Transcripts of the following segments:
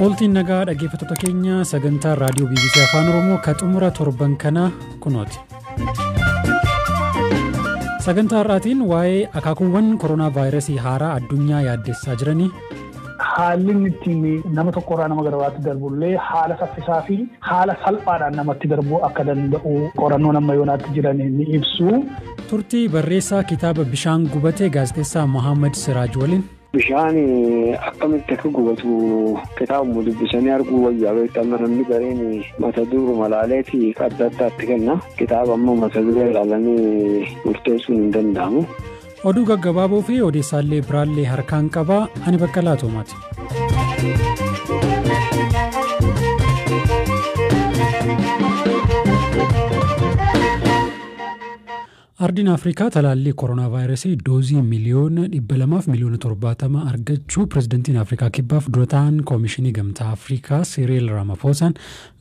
Ooltiin nagaa dhaggeeffattoota keenya sagantaa raadiyoo BBC Afaan Oromoo ka xumura torban kanaa kunooti. Sagantaa har'aatiin waa'ee akaakuuwwan koronaa vaayirasii haaraa addunyaa yaaddessaa jiranii. Haalli inni ittiin nama tokkorraa nama gara biraatti darbullee haala saffisaa fi haala salphaadhaan namatti darbuu akka danda'u qorannoon amma yoonaatti jiran ni ibsu. Turtii barreessaa kitaaba bishaan gubatee gaazexeessaa Mohaammed Siraaj waliin. Bishaan akkamitti akka gubatu kitaabuma dubbisanii arguu wayyaa beektu amma namni gariin mata duruma laaleeti adda addaatti kenna kitaaba amma mata duree ilaalanii murteessuun hin danda'amu. Oduu gaggabaaboo fi odeessaallee biraallee harkaan qaba ani bakka laatoomaati. Ardiin Afrikaa talaallii koronaavaayirasii doozii miliyoona 200 fi miliyoona 70 argachuu pirezidantiin Afrikaa Kibbaaf dura ta'an Koomishinii Gamtaa Afrikaa Siriil Raamafoosaan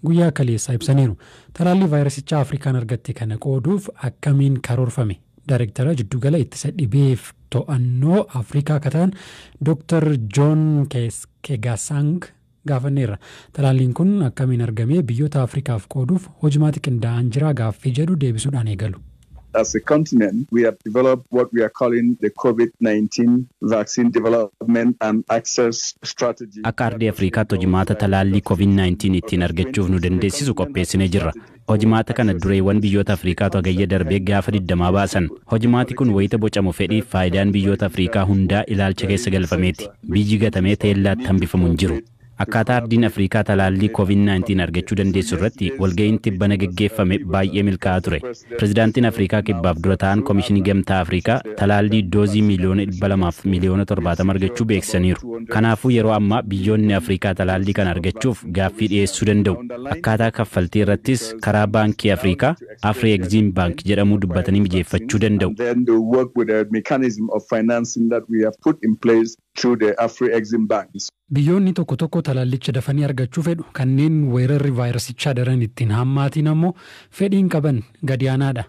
guyyaa kaleessaa ibsaniiru. Talaallii vaayirasichaa Afrikaan argatte kana qooduuf akkamiin karoorfame? Daarektara Jiddugala Ittisa Dhibeef To'annoo Afrikaa ka ta'an Dooktar Joon Keegasaang gaafanneerra. Talaalliin kun akkamiin argamee biyyoota Afrikaaf qooduuf hojmaati qindaa'aan jiraa gaaffii jedhu deebisuudhaan eegalu. As a continent we have developed what we are calling the Covid 19 vaccine development and access strategy. Akka ardii Afrikaatti hojmaata talaallii Covid 19 ittiin argachuuf nu dandeessisu qopheessinee jirra. Hojmaata kana dureewwan biyyoota Afriikaatu Hagayya darbe gaafa 20 baasan. Hojmaati kun wayita bocamu fedhiif faayidaan biyyoota Afriikaa hundaa ilaalcha keessa galfameeti. Biyyi gatamee teellaatti hambifamu hin jiru. Akkaataa ardiin Afriikaa talaallii Covid 19 argachuu dandeessu irratti walga'iin tibbana geggeeffame baay'ee milkaa'aa ture. Pirezidaantiin Afriikaa Kibbaaf dura taa'aan Komishinii Gamtaa Afriikaa talaallii doozii miiliyoona 200 fi miiliyoona 70 argachuu beeksisaniiru. Kanaafuu yeroo ammaa biyyoonni Afriikaa talaallii kana argachuuf gaaffii dhiyeessuu danda'u. Akkaataa kaffaltii irrattis karaa Baankii Afriikaa, Afri-Eximbank, jedhamuu dubbatanii mijeeffachuu danda'u. Biyyoonni tokko tokko talaallicha dafanii argachuu fedhu, kanneen weerarri vaayirasichaa daran itti hin hammaatiin ammoo fedhiin qaban gadi aanaadha.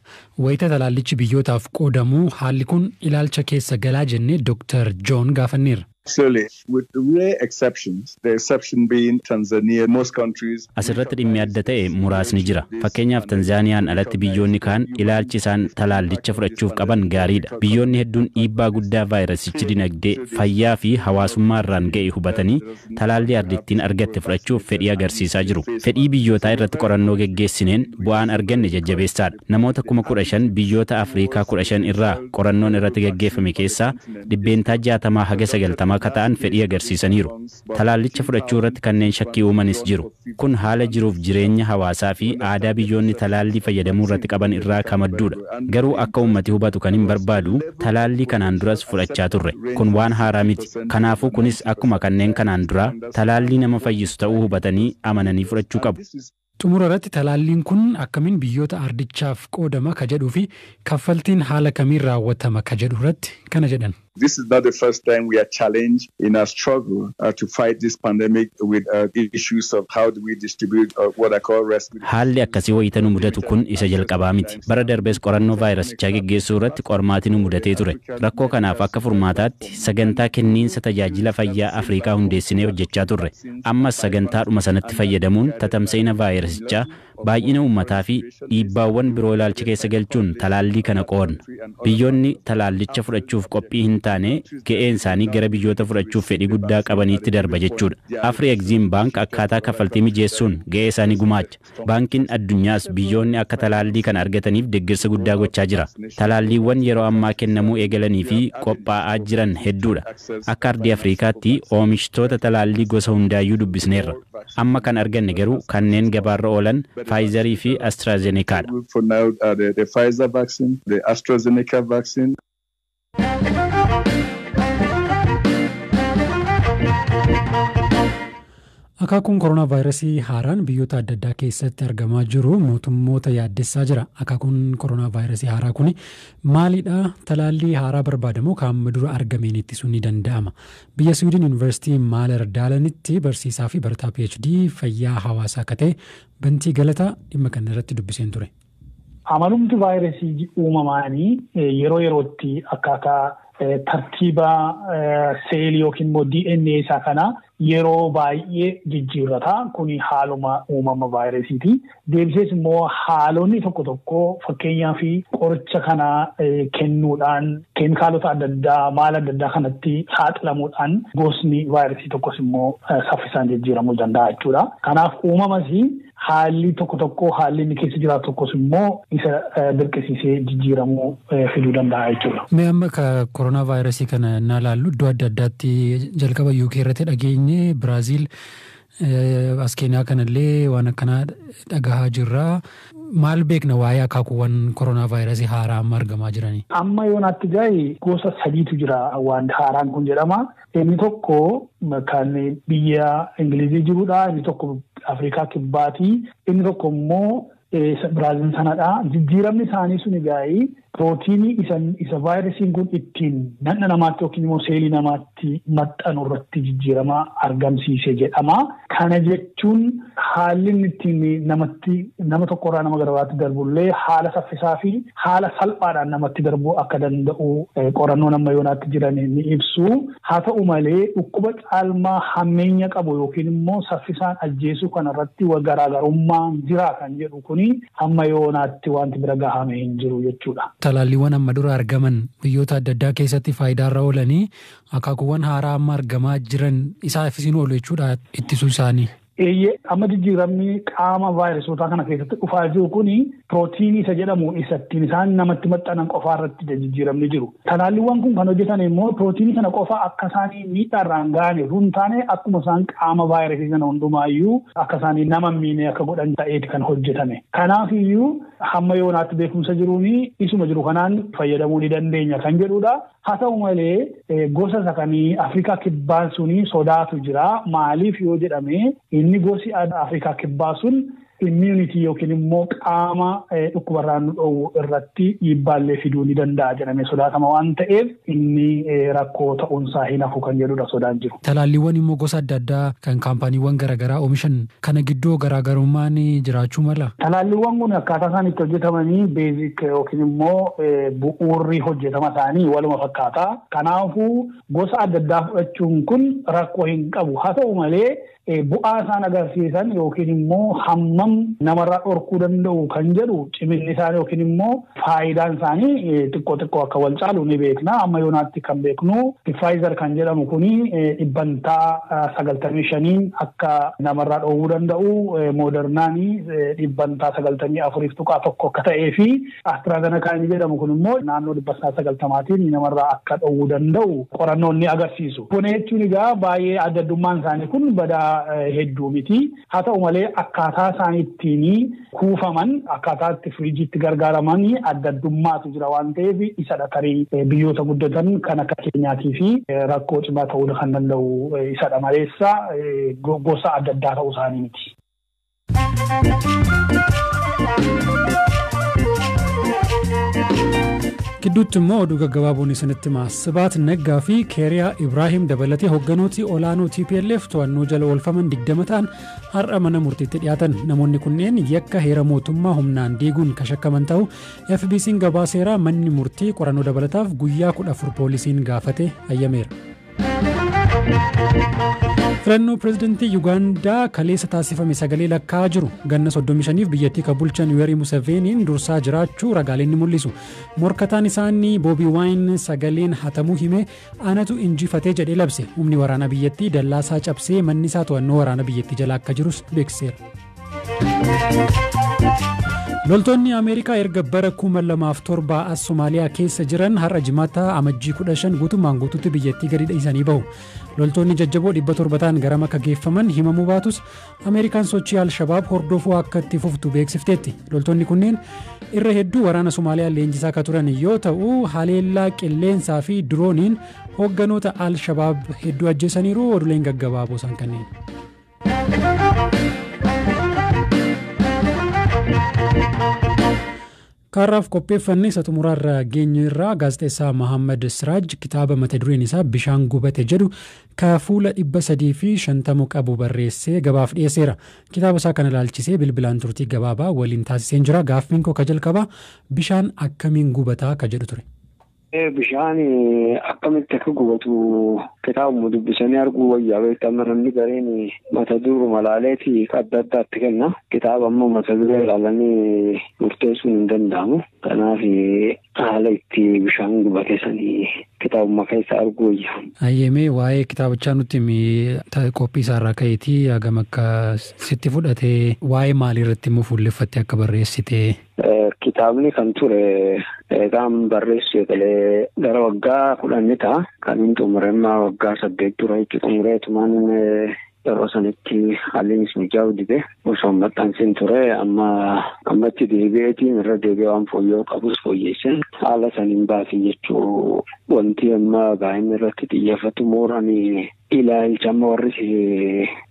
Wayita talaallichi biyyootaaf qoodamu haalli kun ilaalcha keessa galaa jennee Doktar Joon gaafanneerra. Clearly, with rare exceptions, the exception being Tanzania, most countries As irratti dhimmi adda ta'e muraasni jira. Fakkeenyaaf Tanzaaniyaan alatti biyyoonni kaan ilaalchi isaan talaallicha fudhachuuf qaban gaarii dha. Biyyoonni hedduun dhiibbaa guddaa vaayirasichi dinagdee, fayyaa fi hawaasummaa irraan ga'e hubatanii talaallii ardittiin argatte fudhachuuf fedhii agarsiisaa jiru. Fedhii biyyootaa irratti qorannoo geggeessineen bu'aan arganne jajjabeessaa dha. Namoota 15,000 biyyoota Afriikaa 15 irraa qorannoon irratti gaggeeffame keessaa dhibbeentaa 60 haga 90 akka ta'an fedhii agarsiisaniiru. Talaallicha fudhachuu irratti kanneen shakkii uumanis jiru. Kun haala jiruuf jireenya hawaasaa fi aadaa biyyoonni talaallii fayyadamuu irratti qaban irraa ka madduu dha. Garuu akka uummati hubatu kanin barbaadu, talaallii kanaan duras fudhachaa turre. Kun waan haaraa miti. Kanaafuu kunis akkuma kanneen kanaan duraa, talaallii nama fayyisu ta'uu hubatanii, amananii fudhachuu qabu. Xumura irratti talaalliin kun akkamin biyyoota ardichaaf qoodama ka jedhuu fi kaffaltiin haala kamiin raawwatama ka jedhu irratti kana jedhan. This is not the first time we are challenged in our struggle to fight this pandemic with issues of how do we distribute what are called rescue kits. Haalli akkasii wayita nu mudatu kun isa jalqabaa miti. Bara darbes qorannoo vaayirasichaa geggeessuu irratti qormaati nu mudatee ture. Rakkoo kanaaf akka furmaataatti sagantaa kenniinsa tajaajila fayyaa Afriikaa hundeessinee hojjechaa turre. ammas sagantaadhuma sanatti fayyadamuun tatamsa'ina vaayirasichaa, baay'ina uummataafi dhiibbaawwan biroo ilaalcha keessa galchuun talaallii kana qoodna. Biyyoonni talaallicha fudhachuuf qophii hintaane ga'een isaanii gara biyyoota fudhachuuf fedhii guddaa qabaniitti darba jechuudha. Afri Ekziim Baank akkaataa kaffaltii mijeessuun ga'ee isaa ni gumaacha. Baankiin Addunyaas biyyoonni akka talaallii kana argataniif deggersa guddaa gochaa jira. Talaalliiwwan yeroo ammaa kennamuu eegalanii fi qophaa'aa jiran hedduudha. Akka ardii Afriikaatti oomishtoota talaallii gosa hundaayyuu dubbisneerra. Amma kan arganne garuu kanneen gabaarra oolan Faayizarii fi Astraazenekaadha. Akaakuun koronaavaayirasii haaraan biyyoota adda addaa keessatti argamaa jiru mootummoota yaaddessaa jira. Akaakuun koronaavaayirasii haaraa kun maalidha? Talaallii haaraa barbaadamoo kaamma dura argameen ittisuun ni danda'ama? Biyya Siwiidin Yuunivarsiitii Maalar Daalanitti barsiisaa fi barataa PhD fayyaa hawaasaa akka ta'e Bantii Galataa dhimma kana irratti dubbiseen ture. Amalumti vaayirasii uumamaanii yeroo yerootti akkaataa tartiiba seelii yookiin immoo DNA isaa kana yeroo baay'ee jijjiirrata. Kuni haaluma uumama vaayirasiiti. Deebisees immoo haalonni tokko tokko fakkeenyaaf qoricha kana kennuudhaan keemikaalota adda addaa maala adda addaa kanatti saaxilamuudhaan gosni vaayirasii tokkos immoo saffisaan jijjiiramuu danda'a jechuudha. Kanaaf uumamas Haalli tokko tokko haalli inni keessa jiraatu tokkos immoo isa dirqisiisee jijjiiramuu fiduu danda'a jechuudha. Mee amma ka koronaa vaayirasii kana naa laallu iddoo adda addaatti jalqaba UK irratti dhageenye Biraaziil as keenyaa kanallee waan akkanaa dhagahaa jirra. Maal beekna waa'ee akaakuuwwan koronaa vaayirasii haaraa amma argamaa jiranii? Amma yoonaatti gaa'e gosa sadiitu jira waan haaraan kun jedhama. Inni tokko kan biyya Ingilizii jirudha. Inni tokko Afrikaa Kibbaati. Inni tokko immoo Biraazil sanadha. Jijjiiramni isaanii sun egaa pirootiinii isa vaayirasiin kun ittiin dhaqna namaatti yookiin immoo seelii namaatti maxxanu irratti jijjiirama argamsiise jedhama. Kana jechuun haalli inni ittiin namatti nama tokkorraa nama gara biraatti darbullee haala saffisaa fi haala salphaadhaan namatti darbuu akka danda'u qorannoon amma yoonaatti jiran ni ibsu. Haa ta'u malee dhukkuba caalmaa hammeenya qabu yookiin immoo saffisaan ajjeesuu kanarratti garaagarummaan jira kan jedhu kuni amma yoonaatti wanti bira gahame hin jiru jechuudha. Talaalliiwwan amma dura argaman biyyoota adda addaa keessatti faayidaarra oolanii Akaakuuwwan haaraa amma argamaa jiran isaafis hin oolu jechuudha ittisuu isaanii. Eeyyee amma jijjiiramni qaama vaayirasootaa kana keessatti dhufaa jiru kun pirootiinii isa jedhamu isa ittiin isaan namatti maxxanan qofaa irratti jijjiiramni jiru. Talaalliiwwan kun kan hojjetan immoo pirootiinii sana qofa akka isaanii miidhaarraan ga'an osoo hin taane akkuma isaan qaama vaayirasii sana hundumaayyuu akka isaanii nama miinee akka godhan ta'eeti kan hojjetame. Kanaaf iyyuu hamma yoonaatti beekumsa jiruun isuma jiru kanaan fayyadamuu ni dandeenya kan jedhudha. Haa ta'u malee gosa isa kan Afrikaa kibbaan sun sodaatu jira. Maaliif yoo jedhame inni gosi Afrikaa kibbaa sun immunity yookiin immoo qaama dhukkubarraa nu dhoowwu irratti dhiibbaallee fiduu ni danda'a jedhamee sodaatama waan ta'eef inni rakkoo ta'uunsaa hin hafu kan jedhudha sodaan jiru. Talaalliiwwan immoo gosa adda addaa kan kaampaaniiwwan garaagaraa oomishan Kana gidduu garaagarummaan jiraachuu malaa? Talaalliwwan kun akkaataa isaan itti hojjetamanii, basic, yookiin immoo bu'uurri hojjetama isaanii waluma fakkaata. Kanaafuu, gosa adda addaa fudhachuun kun rakkoo hin qabu. Haa ta'u malee, bu'aa isaan agarsiisan yookiin immoo hammam namarraa dhorkuu danda'u kan jedhu ciminni isaanii yookiin immoo Faayidaan isaanii xiqqoo xiqqoo akka wal caalu ni beekna. Amma yoonaatti kan beeknu Pfizer kan jedhamu kuni dhibbantaa 95n akka namarraa dhoowwuu danda'u, Modernaan dhibbantaa 94.1 akka ta'ee fi AstraZeneca inni jedhamu kun immoo naannoo dhibbantaa 90tiin namarraa akka dhoowwuu danda'u qorannoon ni agarsiisu. Kana jechuun egaa baay'ee adda addummaan isaanii kun badaa hedduu miti. Haa ta'u malee akkaataa isaan ittiin kuufaman, akkaataa itti firiijiitti gargaaraman adda addummaatu jira waan ta'eef isadha tarii biyyoota guddatan kan akka keenyaatiif rakkoo cimaa ta'uu kan danda'u isadha maleessa gosa adda addaa ta'uu isaanii miti. Gidduutti immoo oduu gaggabaaboon isinitti maas. Sibahat Neggaa fi Keeriyaa Ibraahim dabalatee hogganooti olaanoo tplf to'annoo jala oolfaman 20 ta'an har'a mana murtiitti dhiyaatan. Namoonni kunneen yakka heera mootummaa humnaan diiguun ka shakkaman ta'uu FBC'n gabaaseera. Manni murtii qorannoo dabalataaf guyyaa 14 poolisiin gaafate hayyameera. Filannoo pirezidantii Yugaandaa kaleessa taasifame sagalee lakkaa'aa jiru. Ganna 35f biyyattii ka bulchan Yuwerii Museveeniin dursaa jiraachuu ragaaleen ni mul'isu. Morkataan isaanii Boobii Waayin sagaleen hatamuu himee anatu injifate jedhee labse. Humni waraanaa biyyattii dallaa isaa cabsee manni isaa to'annoo waraana biyyattii jala akka jirus beeksiseera. Loltoonni Ameerikaa erga bara 2007 as Somaaliyaa keessa jiran har'a jimaata amajjii 15 guutummaan guutuutti biyyattii gadi dhiisanii bahu. Loltoonni jajjaboo 700 ta'an garam akka geeffaman himamuu baatus Ameerikaan sochii Al-Shabaab hordofuu akka itti fuftu beeksifteetti. Loltoonni kunneen irra hedduu waraana Somaaliyaa leenjisaa akka turan yoo ta'u, haleellaa qilleensaa fi dirooniin hoogganoota Al-Shabaab hedduu ajjeesaniiru oduuleen gaggabaaboo isaan kanneen. Kaarraaf qopheeffanne isa xumuraarra geenyeerra. Gaazexeessaa Mahaammad Siraaj kitaaba mata dureen isaa Bishaan Gubate jedhu ka fuula 350 qabu barreessee gabaaf dhiyeesseera. Kitaaba isaa kana ilaalchisee bilbilaan turtii gabaabaa waliin taasiseen jira. Gaaffiin koo ka jalqabaa bishaan akkamiin gubataa ka jedhu ture. Bishaan akkamitti akka gubatu kitaabuma dubbisanii arguu wayyaa beektaa amma namni gariin mata duruma ilaaleeti adda addaatti kenna. Kitaaba ammoo mata duree ilaalanii murteessuun hin danda'amu. Kanaaf haala itti bishaan gubate sanii kitaabuma keessa arguu wayya. Hayyemee waa'ee kitaabichaa nutti qophii isaarraa ka'eetii hagam akka sitti fudhatee waa'ee maalii irratti immoo fuulleffattee akka barreessitee. Kitaabni kan ture eegaan barreessu eegalee gara waggaa kudhan ta'a. Kan hin xumure immoo waggaa saddeet dura jechuudha. Xumuree tumaan yeroo sanitti haallinis mijaa'uu dide osoo hin maxxansin ture amma ammatti deebi'eetiin irra deebi'ee waan fooyya'uu qabus fooyyeesseen haala saniin baasii jechuu wanti amma gaa'inni irratti xiyyeeffatu mooraan ilaalcha amma warri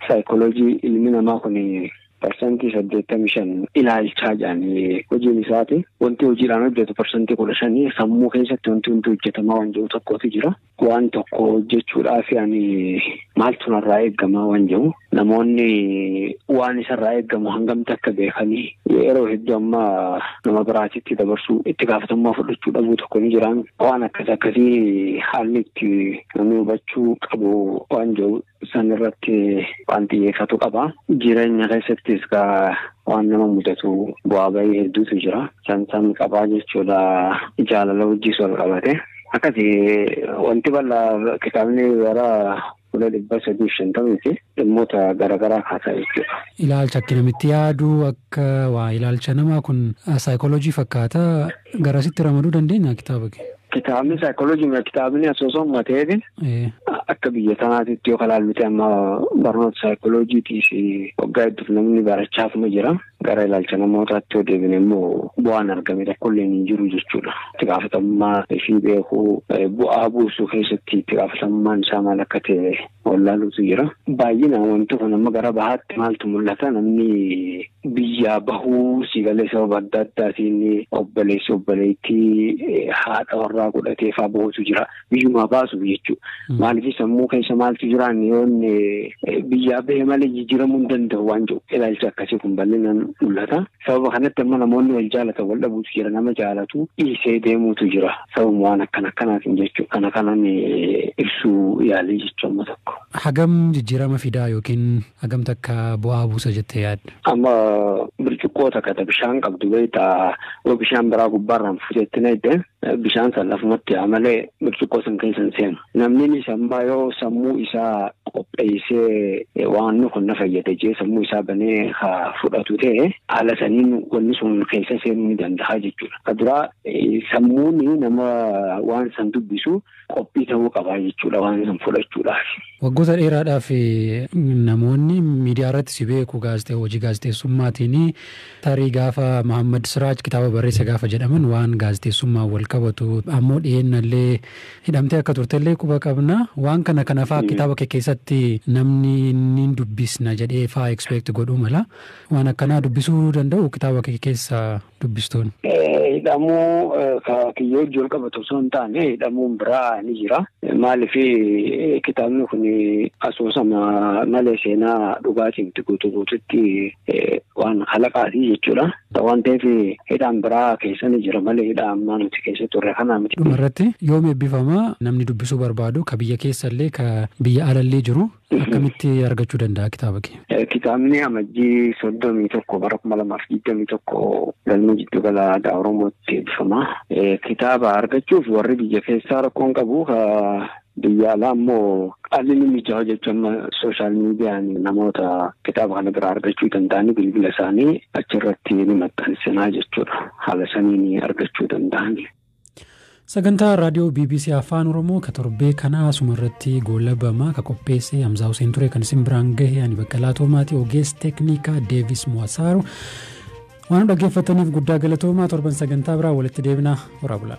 saayikooloojii ilmi namaa kun parsantii 85 ilaalchaa jedhan hojiin isaati. Wanti hojiidhaan hojjetu parsantii 15 sammuu keessatti wanti hundi hojjetamaa waan jiru tokkotu jira. Waan tokko hojjechuudhaaf ani maaltu narraa eegamaa waan jiru namoonni waan isarraa eegamu hangamti akka beekanii yeroo hedduu amma nama biraatitti dabarsuu itti gaafatamummaa fudhachuu dhabuu tokko ni jiraan waan akkas akkasii haalli itti namni hubachuu qabu waan jiru San irratti waan xiyyeeffatu qaba. Jireenya keessattis waan nama mudatu bu'aa bahii hedduutu jira. San san qabaa jechuudha jaalala wajjis wal qabate. Akkasi wanti bal'aa kitaabni gara fuula dhibba sadii fi shantamii fi dhimmoota garaagaraa kaasaa jechuudha. Ilaalcha akkinamitti yaadu akka waa ilaalcha namaa kun saayikooloojii fakkaata. Garasitti ramaduu dandeenya kitaaba kee? Kitaabni saayikooloojii mira kitaabni asoosama mateefi Ee. akka biyya tanaatitti yoo kalaalluti amma barnoota saayikooloojiitii fi waggaa hedduuf namni barachaafuma jira. Gara ilaalcha namootaatti yoo deebine immoo bu'aan argame tokkollee hin jiru jechuudha. Itti gaafatamummaa fi beekuu eh, bu'aa buusuu keessatti itti gaafatamummaan isaa maal akka ta'e wallaaluutu jira. Baay'inaan wanti kun amma gara bahaatti maaltu mul'ata namni biyyaa bahuu si galee sababa adda addaatiin obboleessi obboleettii haadha warraa godhatee faa bahutu jira. Biyyumaa baasuuf jechuudha. Maaliif sammuu keessa maaltu jiraan yoon biyyaa bahe malee jijjiiramuu hin danda'u waan jiru ilaalcha akkasii kun bal'inaan mul'ata. Sababa kanatti amma namoonni wal jaalatan wal dhabuutu jira. Nama jaalatu dhiisee deemuutu jira. Sababuma waan akkana akkanaatiin jechuudha. Kana kanan ibsuu yaalee jechuudha amma tokko. Hagam jijjiirama fidaa yookiin hagam takka bu'aa buusa jettee yaadda? Amma bircuqqoo takka ta bishaan qabdu beektaa yoo bishaan biraa gubbaarraan fuutetti naidde bishaan san lafumatti yaa malee bircuqqoo san keessa hin seenu. Namninis ammaa yoo sammuu isaa qopheessee waanni kun na fayyada jee sammuu isaa banee ha fudhatu ta'e haala saniin wanni sun keessa seenuu ni danda'a jechuudha. Ka duraa sammuun nama waan san dubbisu qophii ta'uu qabaa jechuudha waan san fudhachuudhaaf. Waggoota dheeraadhaaf namoonni miidiyaa irratti si beeku gaazexee hojii gaazexeessummaatiin Tarii gaafa Mahaammad Siraaj kitaaba barreesse gaafa jedhaman waan gaazexeessummaan walqabatu ammoo dhiyeennallee hidhamtee akka turtellee quba qabna. Waan kana kanafaa kitaaba kee keessatti namni niin dubbisna jedhee faa expect godhuu mala. Waan akkanaa dubbisuu danda'u kitaaba kee keessa dubbistoonni. Hidhamuu kiyyoo wajjin walqabatu osoo hin taane hidhamuun biraa ni jira. Maaliif kitaabni kun asoosama malee seenaa dhugaa cimti guutuu guututti waan halaqaati jechuudha. Waan ta'eef hidhaan biraa keessa ni jira malee hidhaa ammaa nuti keessa turre kanaa miti. Dhuma irratti yoom eebbifama namni dubbisuu barbaadu ka biyya keessa illee ka biyya ala illee jiru akkamitti argachuu danda'a kitaaba kee? Kitaabni amajjii soddomii tokko bara kuma lamaaf digdamii tokko galma jiddu gala aadaa Oromootti eebbifama. Kitaaba argachuuf warri biyya keessaa rakkoon qabu Biyya alaa immoo haalli ni mijaa'u jechuun amma sooshaal miidiyaan namoota kitaaba kana biraa argachuu danda'anii bilbila isaanii achirratti ni maxxansinaa jechuudha. Haala saniin argachuu danda'an. Sagantaa raadiyoo BBC Afaan Oromoo ka torbee kanaa asuma irratti goolabama ka qopheesse Hamzaa Huseen ture kan isin biraan gahe ani Baqqalaa Toomaatii ogeessi teeknikaa Deevis Muwasaaru waan dhaggeeffataniif guddaa galatoomaa torban sagantaa biraa walitti deebinaa horaa bulaa.